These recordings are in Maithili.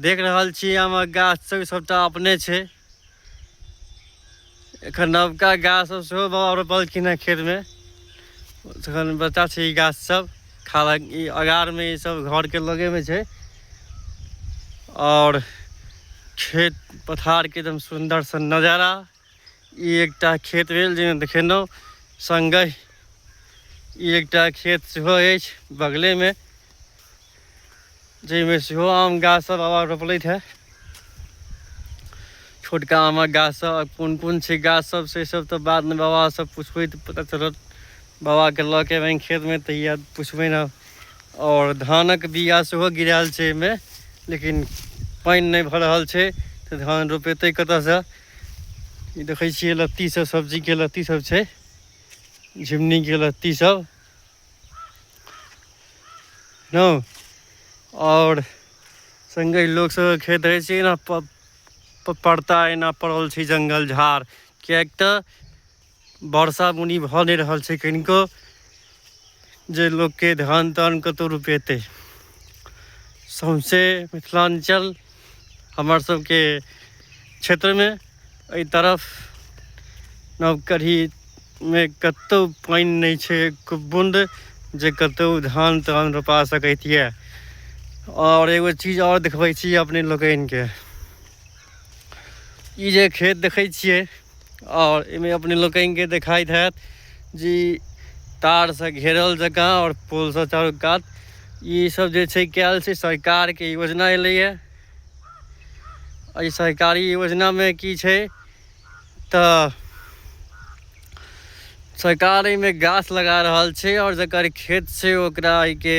देख रहल छी आमक गाछ सब सबटा अपने छै एखन नवका गाछ सब सेहो बाबा रोपलखिन हँ खेतमे एखन बच्चा छै ई गाछ सब खाला ई अगारमे ई सब घरके लगेमे छै आओर खेत पथारके एकदम सुन्दरसँ नजारा ई एकटा खेत भेल जाहिमे देखेलहुँ सङ्गे ई एकटा खेत सेहो अछि बगलेमे जाहिमे सेहो आम गाछसभ बाबा रोपलथि हे छोटका आमक गाछसभ आ कोन कोन छै गाछसभ से सभ तऽ बादमे बाबासँ पुछबै तऽ पता चलत बाबाके लऽ के एबनि खेतमे तऽ इएह पुछबै ने आओर धानक बीया सेहो गिरायल छै एहिमे लेकिन पानि नहि भऽ रहल छै तऽ धान रोपेतै कतयसँ ई देखै छियै लत्ती सब सब्जी के लत्ती सब छै झिमनी के लत्ती सब न और संगे लोग सब खेत रहै छै ना पड़ता एना पड़ल छै जंगल झाड़ किएक तऽ वर्षा बुनी भऽ नहि रहल छै कनिको जे लोकके धान तान कतहु रोपेतै सौंसे मिथिलाञ्चल हमर सबके क्षेत्रमे एहि तरफ नवकढ़ीमे कतहु पानि नहि छै एक बून्द जे कतहु धान तान रोपा सकैत यए आओर एगो चीज आओर देखबै छी अपने लोकनिके ई जे खेत देखै छियै और इमे अपने लोकन के दिखाई है जी तार से घेरल जगह और पुल से चारू कात ये सब जे छै कैल छै सरकार के योजना एले है एहि सरकारी योजना में की छै त सरकार एहिमे गाछ लगा रहल छै और जकर खेत छै ओकरा के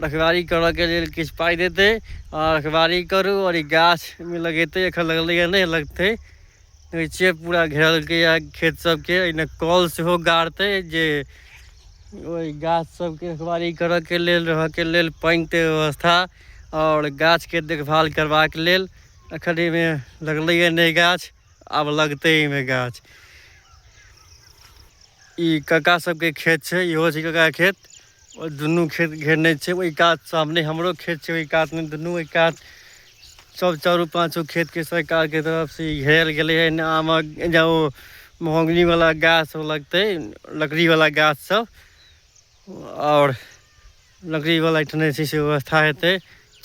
रखवारी करऽ के लेल किछु पाइ देतै आ रखवारी करू और ई गाछ में लगेतै एखन लगले नहीं लगते गैचे पूरा घेरलकै ये खेत सब के एने कल सेहो गाड़ते जे ओहि गाछ सबके रखवारी करऽ के लेल रहय के लेल पानि के व्यवस्था आओर गाछ के देखभाल करबाक लेल एखन ऐ मे लगलै ये नयि गाछ आब लगतै ऐ मे गाछ ई कका सबके खेत छै इहो छै कका के खेत ओ दुनू खेत घेरने छै ओहि कात सामने हमरो खेत छै ओहि कात मे दुनू ओहि कात सब चारू पाछो खेत के सरकार के तरफ से घेरल गेले ह आमक ज ओ महोगनी वाला गाछ सब लगते लकड़ी वाला गाछ सब आओर लकड़ी वाला ठने छै से व्यवस्था हेतै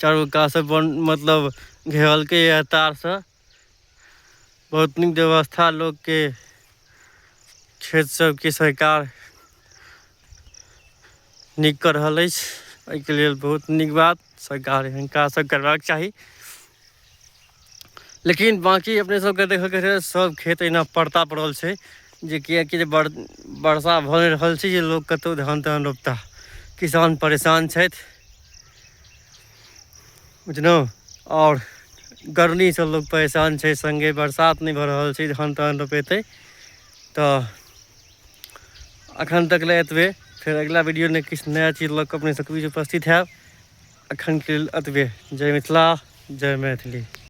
चारू कात स बन मतलब घेरलकै य तार स बहुत नीक व्यवस्था लोकके खेत सभके सरकार नीक कऽ रहल अछि एहिके लेल बहुत नीक बात सरकार हिनका सभ करबाक चाही लेकिन बाँकी अपने सभके देखयके छै सभ खेत अहिना पड़ता पड़ल छै जे किएकि जे बर वर्षा भऽ नहि रहल छै जे लोक कतहु धान तान रोपताह किसान परेशान छथि बुझलहुँ आओर गर्मीसँ लोक परेशान छै सङ्गे बरसात नहि भऽ रहल छै धान तान रोपेतै तऽ एखन तक लए एतबे फेर अगिला वीडियो नहि किछु नया चीज लऽ कऽ अपने सबके बीच उपस्थित हैब एखनके लेल एतबे जय मिथिला जय मैथिली